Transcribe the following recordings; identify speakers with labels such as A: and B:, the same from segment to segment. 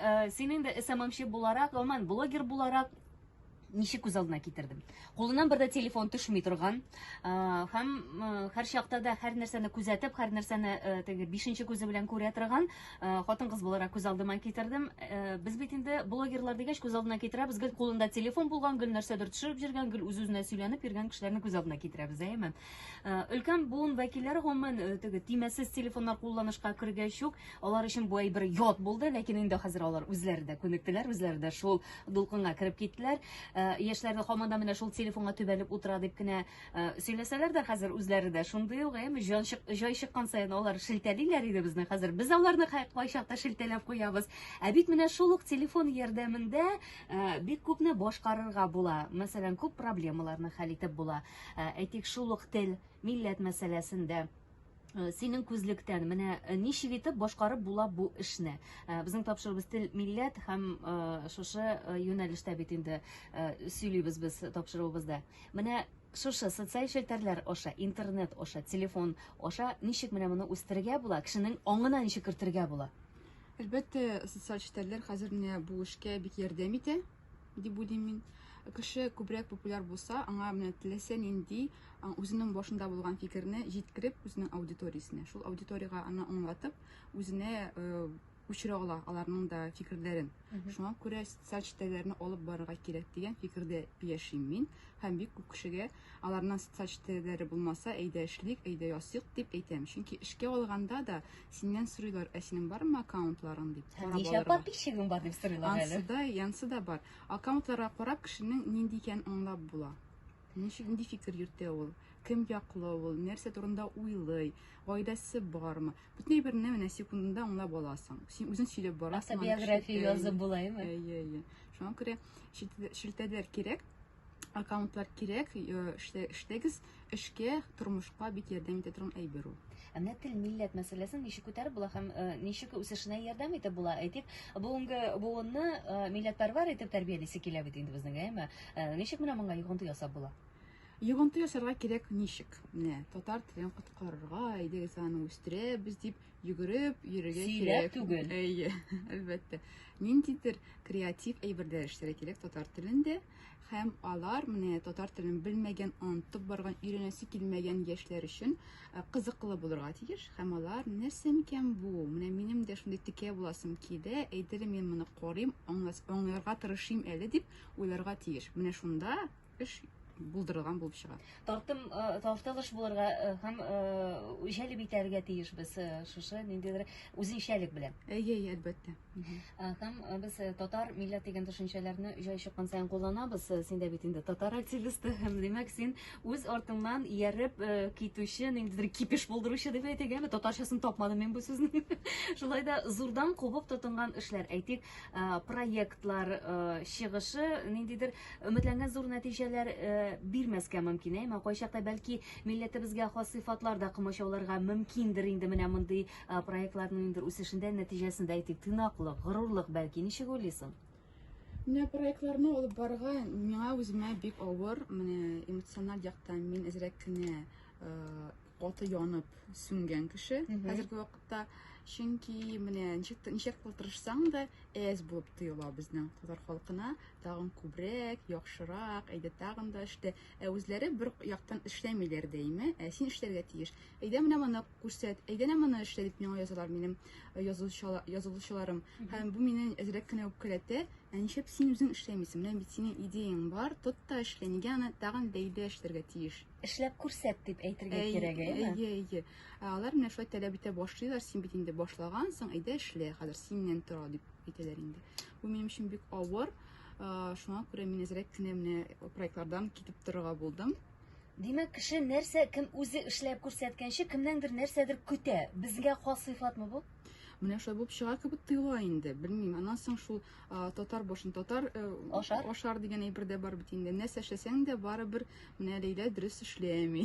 A: Э, син инде сммчы буларак гомумән блогер буларак ничек күз алдына китердем кулыннан бер дә телефон төшми торган э, һәм э, һәр чакта да һәр нәрсәне күзәтеп һәр нәрсәне теге бишенче күзе белән күрә торган хатын кыз буларак күз алдыма китердем без бит инде блогерлар дигәч күз алдына китерәбез гел кулында телефон булган гел нәрсәдер төшереп җөргән гел үз үзенә сөйләнеп йөргән кешеләрне күз алдына китерәбез әйеме Э, өлкән буын вәкилләре гомумән э, теге тимәсез телефоннар кулланышка кергәч үк алар өчен бу әйбер ят булды ләкин инде хәзер алар үзләре дә күнектеләр үзләре дә шул дулкынга кереп киттеләр э, яшьләр дә һаман да менә шул телефонга төбәлеп утыра дип кенә сөйләсәләр дә хәзер үзләре дә шундый ук әйме җай чыккан саен алар шелтәлиләр иде безне хәзер без аларны кайчакта шелтәләп куябыз ә бит менә шул ук телефон ярдәмендә бик күпне башкарырга була мәсәлән күп проблемаларны хәл итеп була Ә, әйтик, шул ук тел, милләт мәсьәләсендә Э, синең күзлектән менә э, ничек итеп башкарып була бу эшне э, безнең тапшырыбыз тел милләт һәм шушы юнәлештә бит инде сөйлибез без тапшыруыбызда менә шушы социаль челтәрләр аша интернет аша телефон аша ничек менә моны үстерергә була кешенең аңына ничек кертергә була әлбәттә
B: социаль челтәрләр хәзер менә бу эшкә бик ярдәм итә дип уйлыйм мин. Кеше күбрәк популяр булса, аңа менә теләсә нинди үзенең башында булган фикерне җиткереп, үзенең аудиториясенә, шул аудиториягә аны аңлатып, үзенә күчерә ала аларның да фикерләрен. Шуңа күрә социаль челтәрләрне алып барырга кирәк дигән фикердә яшим мин һәм бик күп кешегә Аларның социаль челтәрләре булмаса, әйдә эшлик, әйдә ясыйк, дип әйтәм. Чөнки эшкә алганда да синнән сорыйлар, ә синең бармы аккаунтларың дип. Һәм ничә подписчигың
A: бар дип сорыйлар әле. Ансы да, янсы да бар.
B: Аккаунтларга карап кешенең нинди икәнен аңлап була. Ничек нинди фикер йөртә ул? Кем яклы ул? Нәрсә турында уйлый? Гаиләсе бармы? Бөтен берне менә секундында аңлап аласың. Син үзең сөйләп барасың. Автобиография язып
A: булаймы? Әйе, әйе. Шуңа күрә
B: шелтәләр кирәк. аккаунтлар кирәк, эшләгез, эшкә, тормышка бик ярдәм итә торган әйбер ул. Ә менә тел, милләт
A: мәсьәләсен ничек күтәреп була һәм ничек үсешенә ярдәм итеп була? Әйтик, бүгенге буынны милләтпәрвәр итеп тәрбиялисе килә бит инде безнең, әйме? Ничек менә моңа йогынты ясап була? Йогынты ясарга
B: кирәк ничек? Менә татар телен коткарырга, әйдәгез аны үстерәбез дип Йөгереп, йөрергә кирәк. Сөйләп түгел.
A: Әйе, әлбәттә.
B: Ниндидер креатив әйберләр эшләргә кирәк татар телендә. Һәм алар менә татар телен белмәгән, онытып барган, өйрәнәсе килмәгән яшьләр өчен э, кызыклы булырга тиеш. Һәм алар нәрсә микән бу? Менә минем дә шундый текә буласым килә, әйдерем мин моны карыйм, аңларга тырышыйм әле дип уйларга тиеш. Менә шунда эш булдырылган булып чыга. Тартым э, тартылыш
A: булырга э, һәм э, җәлеп итәргә тиеш без шушы ниндидер үзенчәлек белән. Әйе, әлбәттә.
B: Һәм
A: без татар милләт дигән төшенчәләрне җай чыккан саен кулланабыз. Син дә бит инде татар активисты һәм димәк син үз артыңнан ияреп китүче ниндидер кипеш булдыручы дип әйтегәме? Татарчасын тапмадым мин бу сүзнең. Шулай да зурдан кубып тотынган эшләр, әйтик, проектлар чыгышы ниндидер Өметләнгән зур нәтиҗәләр бирмәскә мөмкин, әмма кайчакта бәлки милләтебезгә хас сыйфатлар да комачауларга мөмкиндер инде менә мондый проектларның ниндидер үсешендә, нәтиҗәсендә әйтик, тыйнаклык, горурлык бәлки, ничек уйлыйсың? Менә
B: проектларны алып барырга миңа үземә бик авыр. Менә эмоциональ яктан мин әзрәк кенә э, Каты янып сүнгән кеше хәзерге вакытта. Чөнки менә ничек ничек тырышсаң да әз булып тоела безнең татар халкына. Тагын күбрәк, яхшырак, әйдә тагын да эштә. Ә үзләре бер яктан эшләмиләр дәйме, ә син эшләргә тиеш. Әйдә менә моны күрсәт, әйдә менә моны эшлә дип миңа язалар минем э, язылучыларым. Һәм бу мине әзрәк кенә үпкәләтә. Ә ничек син үзең эшләмисең? Менә бит синең идеяң бар, тот та эшлә. Нигә аны тагын бәйдә эшләргә тиеш? эшләп күрсәт дип
A: әйтергә кирәк, әйме? Әйе, әйе. Ә алар
B: менә шулай таләп итә башлыйлар, син бит инде башлагансың, әйдә эшлә, хәзер синнән тора дип әйтәләр инде. Бу минем өчен бик авыр. Шуңа күрә мин әзрәк кенә менә проектлардан китеп торырга булдым. Димәк, кеше
A: нәрсә кем үзе эшләп күрсәткәнче, кемнәндер нәрсәдер көтә. Безгә хас сыйфатмы бу? Менә шулай булып чыга
B: кебек тоела инде. Белмим, аннан соң шул татар башын татар э, ашар ашар дигән әйбер дә бар бит инде нәрсә эшләсәң дә барыбер менә ләйлә дөрес эшләми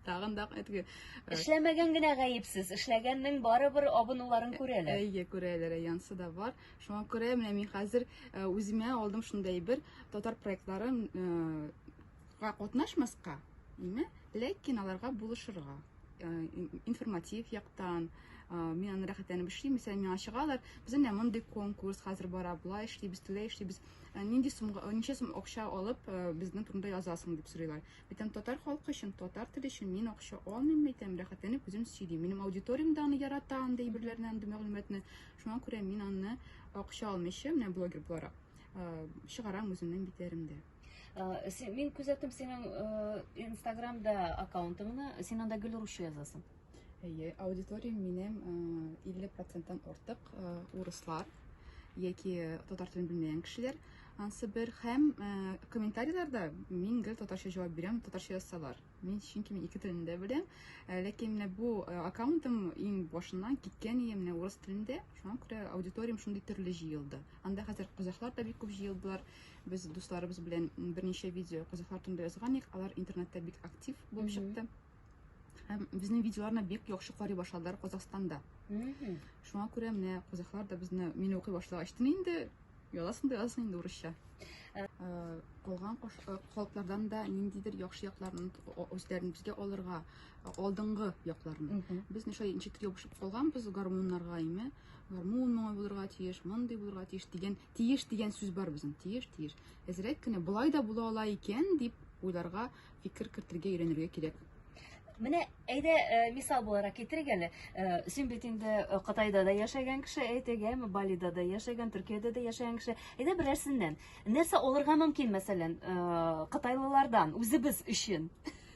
B: тагын да әтеге э, эшләмәгән
A: генә гаепсез эшләгәннең барыбер абынуларын күрәләр әйе күрәләр янсы
B: да бар шуңа күрә менә мин хәзер э, үземә алдым шундый әйбер татар проектларын Га катнашмаска, име, ләкин аларга булышырга. Э, информатив яктан, э, мин аны рәхәтләнеп эшлим, мәсәлән, миңа чыгалар, без әнә мондый конкурс хәзер бара, болай эшлибез, тулай эшлибез, э, нинди сумга, ничә сум акча алып, безнең турында язасың дип сорыйлар. Битәм татар халкы өчен, татар теле өчен мин акча алмыйм, әйтәм, рәхәтләнеп үзем сөйлим. Минем аудиториям да аны ярата, андый әйберләрне, андый мәгълүматны. Шуңа күрә мин аны акча алмыйча, менә блогер буларак, чыгарам үземнең битләремдә.
A: Мин күзәттем синең инстаграмда аккаунтыңны, син анда гел русча язасың. Әйе,
B: аудиториям минем 50 проценттан артык урыслар яки татар телен белмәгән кешеләр. Ансы бер һәм комментарийларда мин гел татарча җавап бирәм, татарча язсалар. Мин чөнки мин ике телен дә беләм. Ләкин менә бу аккаунтым иң башыннан киткән иде менә урыс телендә. Шуңа күрә аудиториям шундый төрле җыелды. Анда хәзер казахлар да бик күп җыелдылар. Без дусларыбыз белән берничә видео казахлар турында язган идек, алар интернетта бик актив булып чыкты. Һәм безнең видеоларны бик яхшы карый башладылар Казахстанда. Шуңа күрә менә казахлар да безне мин укый башлагач инде язасың да язасың инде урысча. Э, калган халыклардан э, да ниндидер яхшы якларын үзләрен безгә алырга э, алдынгы якларын без ничә ничектер ябышып калганбыз гармуннарга име гармун моңа булырга тиеш мондый булырга тиеш дигән Тиеш дигән сүз бар безнең, тиеш, тиеш. Әзрәк кенә болай да була ала икән дип уйларга, фикер кертергә өйрәнергә кирәк. Менә
A: әйдә э, мисал буларак китерик әле. Э, син бит инде э, Кытайда да яшәгән кеше, әйтегәме, Балида да яшәгән, Төркиядә дә яшәгән кеше. Әйдә берәрсеннән. Нәрсә алырга мөмкин, мәсәлән, кытайлылардан үзебез өчен?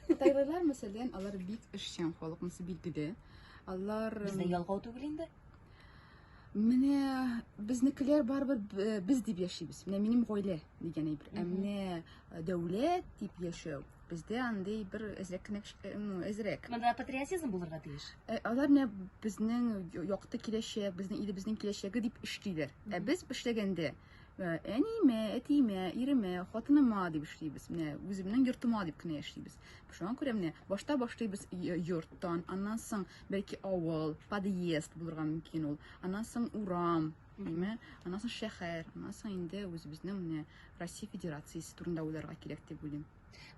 A: Кытайлылар,
B: мәсәлән, алар бик эшчән халык, монысы билгеле. Алар Бездә ялгау түгел
A: инде. Менә
B: безнекеләр барыбер э, без дип яшибез. Менә минем гаилә дигән әйбер. Ә менә э, дәүләт дип яшәү бездә андый бер әзрәк кенә э, ну, әзрәк. Монда патриотизм
A: булырга тиеш. Ә, алар менә
B: безнең якты киләчәк, безнең илебезнең киләчәге дип эшлиләр. Ә без эшләгәндә әниемә, әтиемә, иремә, хатыныма дип эшлибез. Менә үземнең йортыма дип кенә яшибез. Шуңа күрә менә башта башлыйбыз йорттан, аннан соң бәлки авыл, подъезд булырга мөмкин ул. Аннан соң урам, әйме? Аннан соң шәһәр, аннан соң инде үзебезнең менә Россия Федерациясе турында уйларга кирәк дип уйлыйм.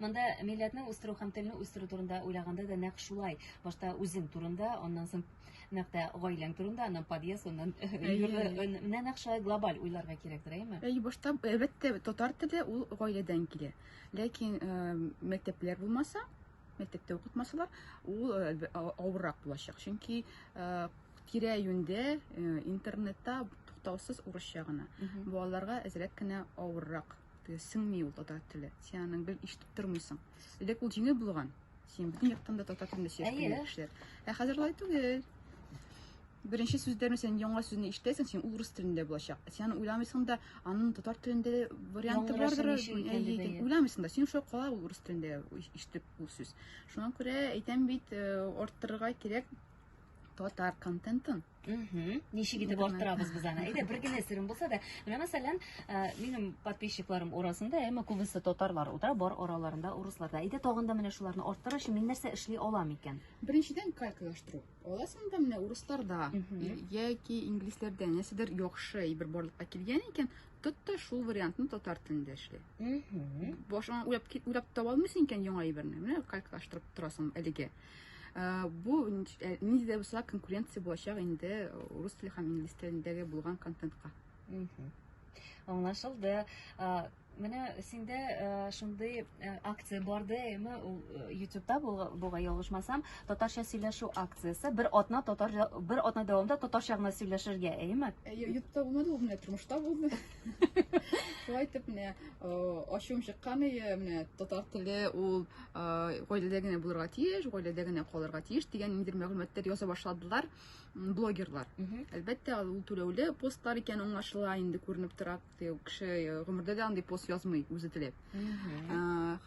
B: Монда милләтне
A: үстерү һәм телне үстерү турында уйлаганда да нәкъ шулай. Башта үзең турында, аннан соң нәкъ тә гаиләң турында, аннан подъезд, аннан менә нәкъ шулай глобаль уйларга кирәктер, әйме? Әй, башта әлбәттә
B: татар теле ул гаиләдән килә. Ләкин мәктәпләр булмаса, мәктәптә укытмасалар, ул авыррак булачак. Чөнки тирә юньдә интернетта туктаусыз урысча гына. Балаларга әзрәк кенә авыррак. Сеңми ул татар теле. Син аның бел ишетеп тормыйсың. Элек ул җиңел булган. Син бөтен яктан да татар телендә сөйләп Әйе. белгән кешеләр. Ә хәзер алай түгел. Беренче сүзләрне сен яңа сүзне ишетәсең, син ул рус телендә булачак. Сен уйламыйсың да, аның татар телендә варианты Яңгырасы бардыр. ничек икән дип, әйе. Уйламыйсың да, син шул кала ул рус телендә иш- ишетеп ул сүз. Шуңа күрә әйтәм бит, э, арттырырга кирәк. татар контентын ничек
A: итеп арттырабыз без аны әйдә бер генә серем булса да менә мәсәлән минем подписчикларым арасында әмма күбесе татарлар утыра бар араларында урыслар да әйдә тагын да менә шуларны арттыру өчен мин нәрсә эшли алам икән беренчедән калькалаштыру
B: аласың да менә урысларда яки инглизләрдә нәрсәдер яхшы әйбер барлыкка килгән икән тот та шул вариантны татар телендә эшли башыңа уйлап таба алмыйсың икән яңа әйберне менә калькалаштырып торасың әлегә Бу нинди дә булса конкуренция булачак инде рус теле һәм инглиз телендәге булган контентка. Аңлашылды.
A: Менә синдә шундый акция барды, эме ютубта булга ялгышмасам, татарча сөйләшү акциясе. Бер атна татар бер атна дәвамында татарча гына сөйләшергә, әйеме? Ютубта булмады, ул
B: менә тормышта булды. шулай итеп менә ачуым чыккан иде менә татар теле ул гаиләдә генә булырга тиеш гаиләдә генә калырга тиеш дигән ниндидер мәгълүматлар яза башладылар блогерлар әлбәттә ул түләүле постлар икән аңлашыла инде күренеп тора кеше гомердә дә андый пост язмый үзе теләп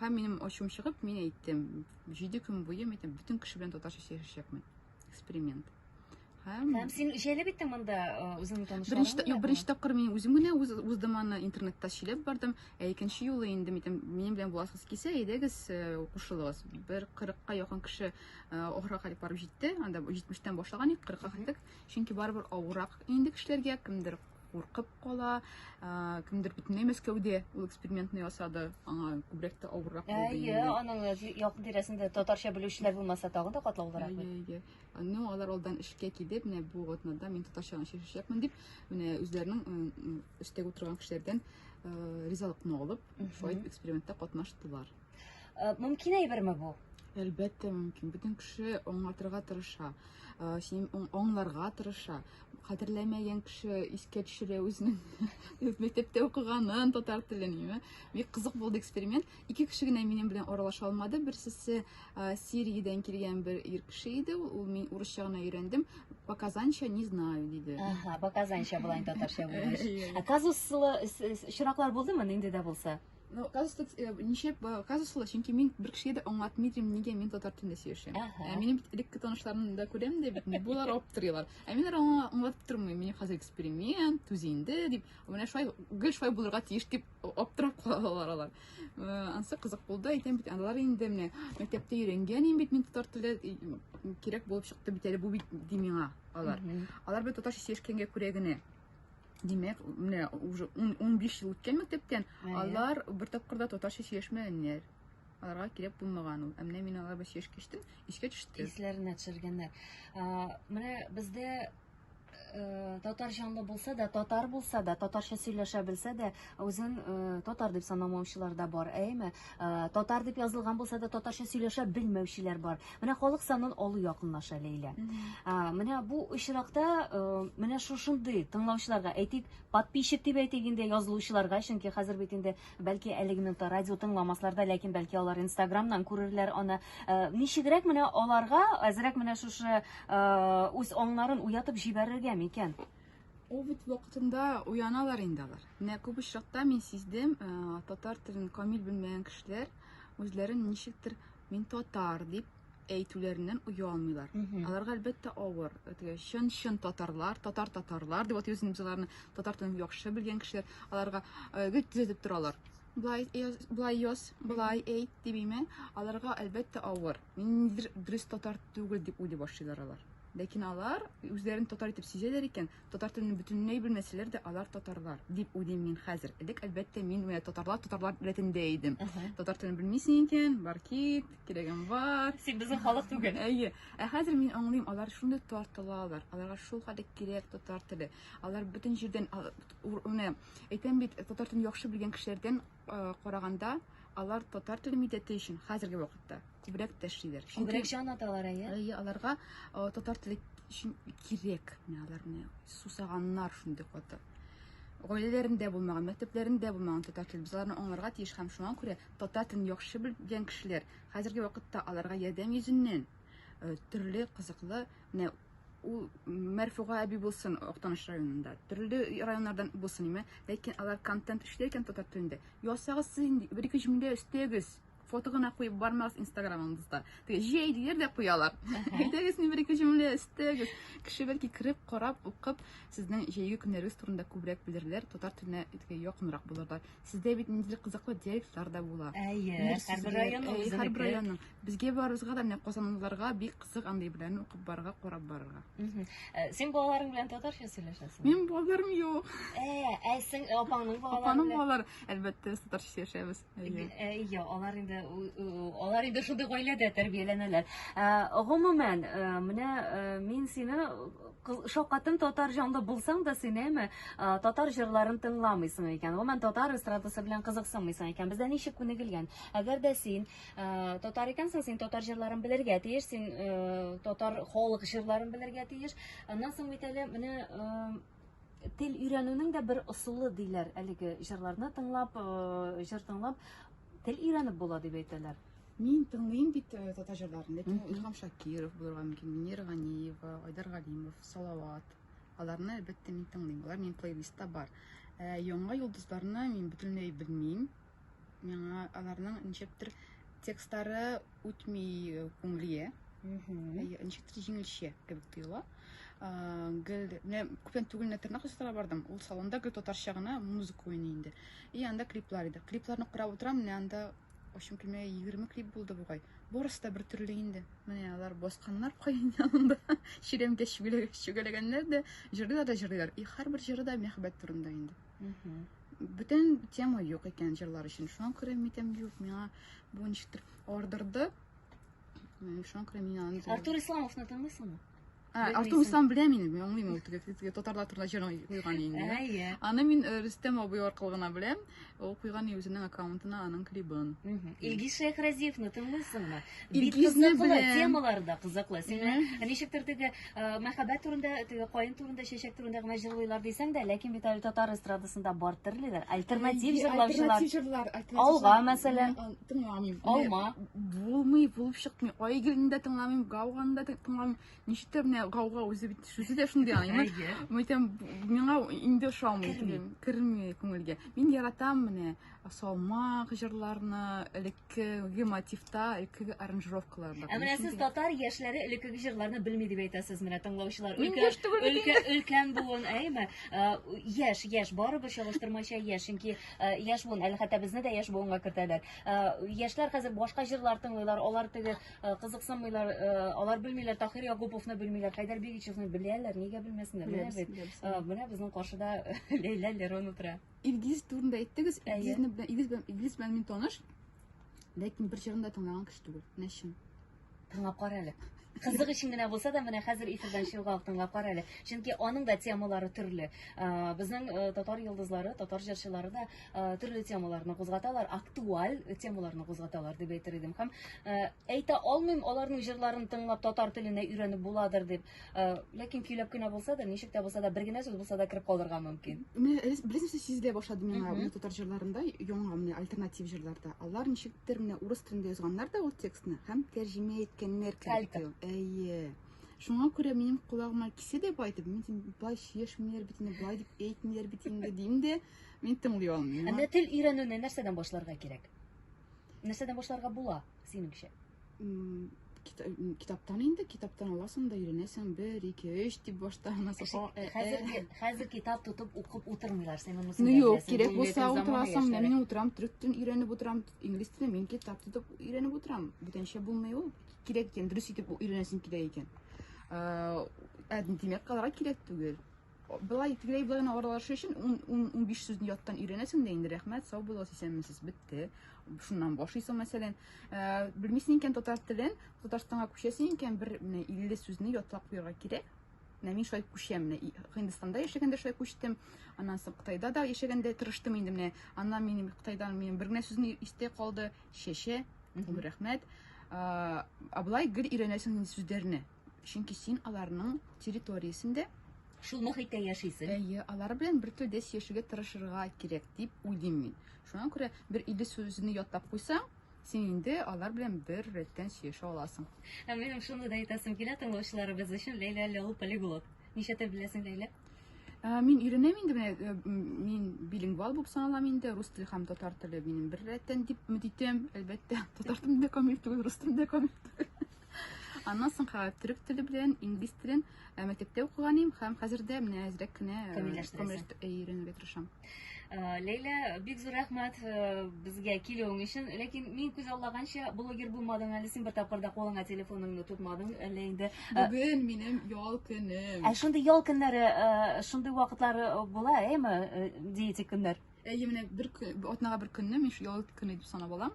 B: һәм минем ачуым чыгып мин әйттем җиде көн буе мин бөтен кеше белән татарча сөйләшәчәкмен эксперимент һәм һәм
A: син җәлеп иттең монда үзеңнең танышларың беренче юк беренче тапкыр мин үзем
B: генә үз уздым аны интернетта сөйләп бардым ә икенче юлы инде митем минем белән буласыз килсә әйдәгез кушылыгыз бер кырыкка якын кеше ахырга кадәр барып җитте анда җитмештән башлаган идек кырыкка килдек чөнки барыбер авырак инде кешеләргә кемдер куркып кала. Кемдер бөтенләй Мәскәүдә ул экспериментны ясады. Аңа күбрәк тә авыррак булды. Әйе, аның
A: якын тирәсендә татарча белүчеләр булмаса тагы да катлаулырак. Әйе, Ну,
B: алар алдан эшкә килеп, менә бу атнада мин татарча гына чишәчәкмен дип, менә үзләренең өстә утырган кешеләрдән ризалыкны алып, шулай экспериментта катнаштылар. Э, мөмкин
A: әйберме бу? Әлбәттә мөмкин.
B: Бөтен кеше аңлатырга тырыша, э, син аңларга тырыша. Кадерләмәгән кеше искә төшерә үзенең мәктәптә укыганын, татар телен, яме. Бик кызык булды эксперимент. Ике кеше генә минем белән аралаша алмады. Берсесе э, Сириядән килгән бер ир кеше иде. Ул мин урысча гына өйрәндем. Показанча не знаю диде. Ага, показанча булай
A: татарча булды. Казуслы очраклар булдымы, нинди дә булса? Ну, оказывается,
B: э, ничек казус була, чөнки мин бер кешегә дә аңлатмыйдым, нигә мин татар телендә сөйләшәм. Ә минем бит элекке танышларымны да күрәм дә бит, булар аптырыйлар. Ә мин аңа аңлатып тормыйм, мин хәзер эксперимент, түз инде дип, менә шулай гел шулай булырга тиеш дип аптырап калалар алар. Э, ансы кызык булды, әйтәм бит, алар инде менә мәктәптә өйрәнгән бит мин татар теле кирәк булып чыкты бит әле бу бит ди миңа алар. Алар бит татарча сөйләшкәнгә күрә генә Димәк, менә уже 15 ел үткән мәктәптән алар бер тапкырда татарча сөйләшмәгәннәр. Аларга кирәк булмаган ул. Ә менә мин алар белән сөйләшеп кичтем, искә төште. Исләренә төшергәннәр.
A: Менә бездә э, татар җанлы булса да, татар булса да, татарча сөйләшә белсә дә, Үзен э, татар дип санамаучылар да бар, әйме? Э, татар дип язылган булса да татарча сөйләшә белмәүчеләр бар. Менә халык санын алу якынлаша Ләйлә. Э, менә бу очракта э, менә шушындый тыңлаучыларга, әйтик, подписчик дип әйтик инде язылучыларга, чөнки хәзер бит инде бәлки әлеге минутта радио тыңламаслар да, ләкин бәлки алар Инстаграмнан күрерләр аны. Э, ничегрәк менә аларга әзрәк менә шушы э, үз аңнарын уятып җибәрергә микән? Ул бит
B: вакытында уяналар инде алар. Менә күп очракта мин сиздем, э, татар телен камил белмәгән кешеләр үзләрен ничектер мин татар дип әйтүләреннән оя алмыйлар. Аларга әлбәттә авыр. Теге чын-чын татарлар, татар татарлар дип атыйбыз без аларны, татар телен яхшы белгән кешеләр, аларга э, гел төзәтеп торалар. Блай яз, блай яз, блай әйт дибеме? Аларга әлбәттә авыр. Мин дөрес татар түгел дип уйлый башлыйлар алар. Ләкин алар үзләрен татар итеп сизәләр икән, татар телен бөтенләй белмәсәләр дә, алар татарлар, дип уйлыйм мин хәзер. Элек, әлбәттә, мин менә татарлар, татарлар рәтендә идем. Татар телен белмисең икән, бар кит, кирәгем бар. Син безнең халык түгел.
A: Әйе. Ә хәзер
B: мин аңлыйм, алар шундый тартылалар. Аларга шул хәтле кирәк татар теле. Алар бөтен җирдән, а, ур- менә, әйтәм бит, татар телен яхшы белгән кешеләрдән караганда алар татар теле милләте өчен хәзерге вакытта күбрәк тәшлиләр. Күбрәк җан аталар
A: әйе. Әйе, аларга
B: татар теле өчен кирәк. Менә алар менә сусаганнар шундый каты. Гаиләләрендә булмаган, мәктәпләрендә булмаган татар теле. Без аларны аңларга тиеш һәм шуңа күрә татар телен яхшы белгән кешеләр хәзерге вакытта аларга ярдәм йөзеннән төрле кызыклы менә Ул Мәрфуга әби булсын Актаныш районында, төрле районнардан булсын име, ләкин алар контент эшли икән татар телендә. Ясагыз сез инде, бер-ике җөмлә өстәгез. Фото гына куеп бармагыз инстаграмыгызда. Теге җәй диләр дә куялар. Әйдәгез инде бер-ике җөмлә өстәгез. Кеше бәлки кереп, карап, укып, сезнең җәйге көннәрегез турында күбрәк белерләр, татар теленә теге якынрак булырлар. Сездә бит ниндидер кызыклы диалектлар да була. Әйе, Бер һәрбер сүзләр,
A: районның әйе, һәрбер үзенеке. районның. Безгә
B: барыбызга да менә казанлыларга бик кызык андый белән укып барырга, карап барырга. Э, Син
A: балаларың белән татарча сөйләшәсеңме? Минем балаларым юк.
B: Ә, ә син
A: апаңның балалары Апаның белән? балалары,
B: әлбәттә, без татарча сөйләшәбез. Әйе. Э, Әйе,
A: алар инде у- у- алар инде шундый гаиләдә тәрбияләнәләр. Ә, Гомумән, э, менә э, мин сине кыз- шаккаттым татар җанлы булсаң да син әйме э, татар җырларын тыңламыйсың икән. Гомумән татар эстрадасы белән кызыксынмыйсың икән. Бездә ничек күнегелгән? Әгәр дә син Э, татар икәнсең син татар җырларын белергә тиеш син э, татар халык җырларын белергә тиеш аннан соң бит әле менә э, тел өйрәнүнең дә бер ысулы диләр әлеге җырларны тыңлап җыр тыңлап тел өйрәнеп була дип әйтәләр Мин тыңлыйм
B: бит татар җырларын, ләкин Илһам Шакиров булырга мөмкин, Мөнир Ганиева, Айдар Галимов, Салават. Аларны әлбәттә мин тыңлыйм. Алар минем плейлистта бар. Яңа йолдызларны мин бөтенләй белмим. Миңа аларның ничектер текстлары үтми күңелгә. Ничектер җиңелчә кебек тоела. Гел менә күптән түгел менә тырнак ясатырга бардым. Ул салонда гел татарча гына музыка уйный инде. И анда клиплар иде. Клипларны карап утырам, менә анда Ошым килмә 20 клип булды бугай. Барысы да бер төрле инде. Менә алар басканнар каен янында. Чиремгә чүгәләгәннәр дә, җырлыйлар да җырлыйлар. И һәрбер җыры да мәхәббәт турында инде. Бүтән тема юк икән җырлар өчен. Шуңа күрә митәм юк, миңа бу ничектер ардырды. Шуңа күрә мин аны Артур Исламовны
A: тыңлыйсыңмы? Ә, Артур Ислам
B: белә мине, мин аңлыйм ул теге татарлар турында җыр куйган инде. Ә, иә. Аны мин э, Рөстәм абый аркылы гына беләм. Ул куйган үзенең аккаунтына аның клибын. Илгиз
A: Шәйхразиевны тыңлыйсыңмы? Илгизне
B: беләм. Темалары да кызыклы.
A: Сине ничектер теге Э, мәхәббәт турында теге каен турында чәчәк турында гына җырлыйлар дисәң дә ләкин бит әле татар эстрадасында бар төрлеләр альтернатив җырлаучылар алга мәсәлән тыңламыйм алма булмый булып
B: чыкмый айгелне дә тыңламыйм гауганы да тыңламыйм ничектер менә гауга үзе бит сүзе дә шундый аны әйтәм миңа инде ошамый керми күңелгә мин яратам менә Салмак җырларны элеккеге мотивта, элеккеге аранжировкаларда. Ә менә сез татар
A: яшьләре элеккеге җырларны белми дип әйтәсез менә тыңлаучылар. Өлкә өлкән буын, әйме? Яшь, яшь, барыбер чагыштырмача яшь, чөнки яшь буын, әле хәтта безне дә яшь буынга кертәләр. Яшьләр хәзер башка җырлар тыңлыйлар, алар теге кызыксынмыйлар, алар белмиләр, Тахир Ягуповны белмиләр, Хайдар Бигичевны беләләр, нигә белмәсеннәр? Менә без, менә безнең каршыда Ләйлә Лерон утыра. Илгиз турында
B: әйттегез. Илгизне белән Илгиз белән Илгиз белән мин таныш. Ләкин бер җырын да тыңлаган кеше түгел. Менә чын. Тыңлап кара
A: әле. Кызык өчен генә булса да, менә хәзер эфирдан чыгуга ук тыңлап кара әле. Чөнки аның да темалары төрле. Ә, Безнең э, татар йолдызлары, татар җырчылары да э, төрле темаларны кузгаталар, актуаль темаларны кузгаталар дип әйтер идем. Һәм э, Әйтә алмыйм, аларның җырларын тыңлап татар теленә өйрәнеп буладыр дип. Э, ләкин көйләп кенә булса да, ничек тә булса да, бер генә сүз булса да кереп калырга мөмкин. Менә рез- бераз нәрсә
B: сизелә башлады миңа Мгм. менә татар җырларында, яңа менә альтернатив җырларда. Алар ничектер менә урыс телендә язганнар да ул текстны һәм тәрҗемә иткәннәр кебек. Калька. тоела. Әйе. Шуңа күрә минем колагыма кисе дә бай дип, мин дим, былай сөйләшмиләр бит инде, былай дип әйтмиләр бит инде дим дә, мин тыңлый алмыйм. Ә менә тел өйрәнүне
A: нәрсәдән башларга кирәк? Нәрсәдән башларга була, синеңчә?
B: Китаптан инде, китаптан аласың да өйрәнәсең, бер, ике, өч дип башта анасы. Хәзер, хәзер
A: китап тотып укып утырмыйлар, син моны Ну юк, кирәк булса
B: утырасың, менә мин утырам, төрек телен өйрәнеп утырам, инглиз телен мин китап тотып өйрәнеп утырам. Бүтәнчә булмый ул. Кирәк икән, дөрес итеп өйрәнәсең кирәк икән. Ә димәк, калырга кирәк түгел. Былай тегеләй былай гына аралашу өчен 10-15 сүзне яттан өйрәнәсең дә инде. Рәхмәт, сау булыгыз, исәнмесез, бетте. Шуннан башлыйсың, мәсәлән. Э, белмисең икән татар телен, Татарстанга күчәсең икән, бер менә 50 сүзне ятлап куярга кирәк. Менә мин шулай күчәм. Менә Һиндстанда яшәгәндә шулай күчтем. Аннан соң Кытайда да яшәгәндә тырыштым инде менә. Аннан минем Кытайдан минем бер генә сүзне истә калды. Шәшә. Рәхмәт. Э, Аблай гел өйрәнәсең сүзләрне. Чөнки син аларның территориясендә. Шул мохиттә
A: яшисең. Әйе, алар белән бер
B: телдә сөйләшергә тырышырга кирәк дип уйлыйм мин. Шуңа күрә бер илле сүзне ятлап куйсаң, син инде алар белән бер рәттән сөйләшә аласың. Ә минем шуны да
A: әйтәсем килә тыңлаучыларыбыз өчен, Ләйлә әле ул полиглот. Ничә тел беләсең, Ләйлә? Ә, Мин
B: өйрәнәм инде менә э, м, мин билингвал булып саналам инде. Рус теле һәм татар теле минем бер рәттән дип өмет итәм. Әлбәттә, татар телендә камил түгел, рус телендә камил түгел. Аннан соңга төрек теле белән, инглиз телен э, мәктәптә укыган идем һәм хәзер дә менә әзрәк кенә э, камилләштерәсең. Э, өйрәнергә тырышам. Ләйлә,
A: бик зур рәхмәт безгә килүең өчен. Ләкин мин күз аллаганча блогер булмадың әле син бер тапкырда кулыңа телефоныңны тотмадың әллә инде. Бүген минем
B: ял көнем. Ә шундый ял көннәре,
A: шундый вакытлары була, әйме, диетик көннәр? Әйе, менә бер
B: атнага бер көнне мин ял көне дип санап алам.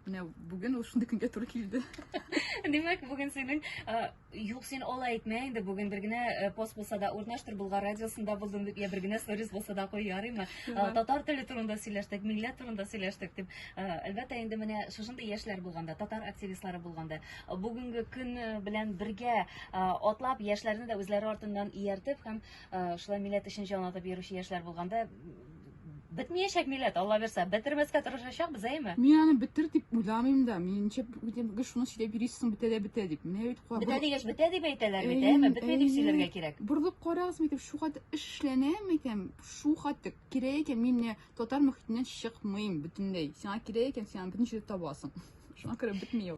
B: Менә бүген ул шундый көнгә туры килде. Димәк,
A: бүген синең юк син алай әйтмә инде, бүген бер генә пост булса да урнаштыр Болгар радиосында булдым дип, я бер генә сторис булса да куй, ярыймы? Татар теле турында сөйләштек, милләт турында сөйләштек дип. Әлбәттә, инде менә шушындый яшьләр булганда, татар активистлары булганда, бүгенге көн белән бергә атлап, яшьләрне дә үзләре артыннан ияртеп һәм шулай милләт өчен җан атып йөрүче яшьләр булганда, Бетмәячәк милләт, Алла бирсә, бетермәскә тырышачакбыз, әйме? Мин аны бетер дип
B: уйламыйм да. Мин ничә бүтәнге шуны сөйләп йөрисең, бетә дә бетә дип. Менә бит куа. Бетә дигәч, бетә дип әйтәләр
A: бит, әйме? Бетмәй дип сөйләргә кирәк. Борылып карагыз, әйтәм,
B: шу хәтле эш эшләнә, әйтәм, шу хәтле кирәк икән, мин менә татар мөхитеннән чыкмыйм бөтенләй. Сиңа кирәк икән, син аны бөтен җирдә табасың. Шуңа күрә бетми ул.